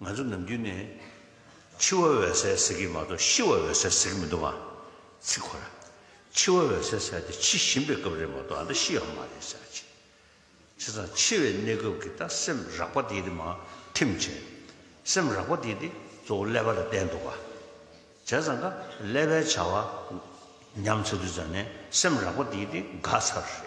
ང་ཚོ་ནམ་རྒྱུན་ནས། འཆི་བ་འོད་གསལ་ཟེར་གྱི་མ་གཏོགས་ཤི་བ་འོད་གསལ་ཟེར་གྱི་མི་འདུག་ཨ། ཚིག་ཁོ་ར། འཆི་བ་འོད་གསལ་ཟེར་དེ་འཆི་བཞིན་པའི་སྐབས་རེད་མ་གཏོགས་ཨ་མདའ་ཤི་ཡག་མ་རེད་ཟེར་ཨ་ཅེ། བྱས་ཙང་འཆི་བའི་གནས་སྐབས་ཀྱི་ད་སེམས་རག་པ་དེ་དེ་མ་ཐིམ་བྱས། སེམས་རག་པ་དེ་དེ་གཙོ་བོ་ཀླད་པ་ལ་བསྟན་འདུག་ཨ། བྱས་ཙང་ཀ་ཀླད་པའི་བྱ་བ་ཉམས་ཚར་དུས་ཙང་ནས་སེམས་རག་པ་དེ་དེ་འགག་ཚར་རེད།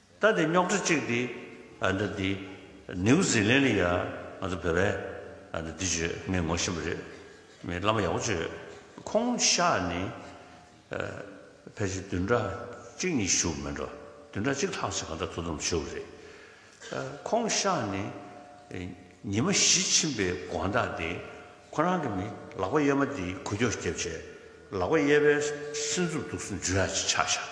ལྟ་དེ་རྙོག་དྲ་གཅིག་འདི། འདི་འདི། ནེའུ་ཟི་ལན་ལི་ཡ། ང་ཚོ་བོད་པས། འདི་འདི་བྱོས། ངས་ངོ་ཤེས་པ་རེད། མི་བླ་མ་ཡག་པོ་བྱོས། ཁོང་ཤག་ནི། ཕལ་ཆེར་བདུན་ཕྲག་གཅིག་གཉིས་བཞུགས་མིན་འགྲོ། བདུན་ཕྲག་གཅིག་ལྷག་ཅིག་གང་འདྲ་དོ་དམ་བྱོས་པ་རེད། ཁོང་ཤག་ནི། ཉི་མ་བཞི་ཕྱིན་པའི་དགོངས་དག་འདི། ཁོ་རང་གི་ནི་ལག་པ་གཡས་མ་འདི་གུ་རྒྱོག་རྒྱབ་བྱས། ལག་པ་གཡས་པའི་སེམས་འཚུབ་སྡུག་སུན་འབྱུང་ཡག་ཅིག་ཆགས་ཤག།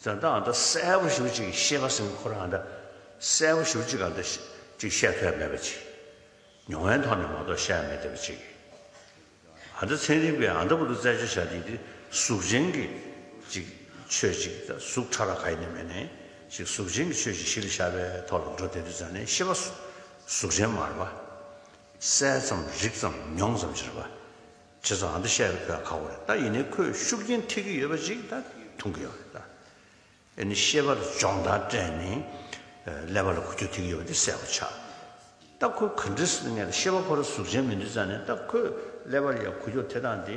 བཟའ་ཟླ་ཨ་མདོ་གསལ་པོ་ཞུ་ཅིག་ཤེས་པ་སེམས་ཁོར་ཨ་མདའ་གསལ་པོ་ཞུ་ཅིག་ཨ་མདོ་ཅིག་བཤད་ཐོས་མེད་པ་ཅིག་མྱོང་བའི་ཐོག་ནས་མ་གཏོགས་བཤད་མེད་བསྡད་པ་ཅིག་ཨ་མདའ་མཚན་རིག་པའི་ཨ་མདའ་བུ་རུ་རྩད་གཅོད་བྱ་དེ་དེ་གཟུགས་ཅན་གྱི་ཅིག་ཆོས་ཅིག་ད་གཟུགས་ཕྲ་ར་ག་ཡེ་ནས་མེད་ནས་ཅིག་གཟུགས་ཅན་གྱི་ཆོས་ཅིག་ཞི་ལ་ཤར་པའི་ཐོག་ལ་འགྲོ་དེ་དུས་ཟ་ནས་ཤེས་པ་གཟུགས་ཅན་མ་རེད་པ། གསལ་ཙམ་རིག་ཙམ་མྱོང་ཙམ་ཅི་རེད་པ། ཁྱེད་ཚོ་ཨ་མདོ་ཤེས་རབ་ཁོས་ག་གོ་རེད་ད་ཡིན་ནའི་ཁོས་ཤུགས་རྐྱེན་ཐེབས་ཀྱི་ཡོད་པ་ཞིག་ད་མཐོང་གི་ཡོད་རེད་ད། ཨེ་ནི་ཤེས་པར་སྦྱོང་བརྡར་སྤྲད་ནས་ཀླད་པ་ལ་གོ་ཆོད་ཐེབས་ཀྱི་ཡོད་པ་དེ་གསལ་བོ་ཆགས། ད་ཁོས་ག་འདྲི་སི་ངས་ད་ཤེས་པ་ཁོ་ར་གཟུགས་ཅན་མི་འདུག་ཙང་ནས་ད་ཁོས་ཀླད་པར་ཡ་གོ་ཆོད་ཐེབས་སྟངས་དེ།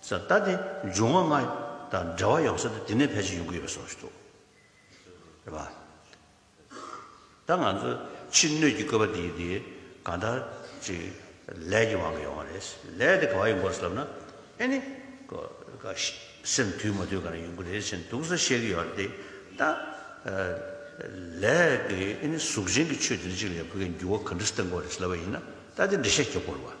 ས་བལྟ་སྟེ་འབྱུང་བ་ལྔ་དང་འབྲེལ་བ་ཡོང་ས་དེ་དེ་ནས་ཕལ་ཆེར་ཡོང་གི་ཡོད་པ་གསུངས་ཤིག་འདུག་རེད་པ། ད་ང་ཚོ་ཕྱི་སྣོད་ཀྱི་བཀོད་པ་འདི་དེ་གང་ལྟར་ཅིག་ལས་ཀྱི་དབང་གིས་ཡོང་བ་རེད། ལས་དེ་ག་བ་ཡིན་སྐོར་ལབ་ན་ཨེ་ནི། སེམས་དུལ་མ་དུལ་ག་རེ་ཡོང་གི་རེད་ཅེས་འདུག་ས་བཤད་ཀྱི་ཡོད་རེད་ད། ལས་ཀྱི་ཨེ་ནི་གཟུགས་ཅན་གྱི་ཆོས་འདི་འདྲ་ཅིག་ལས་བོད་ཀྱི་འགྱུར་བ་ག་འདྲ་བསྟན་དགོས་རེད་ལབ་པ་ཡིན་ན་ད་དེ་འདྲ་བཤད་རྒྱབ་དགོས་རེད་བ།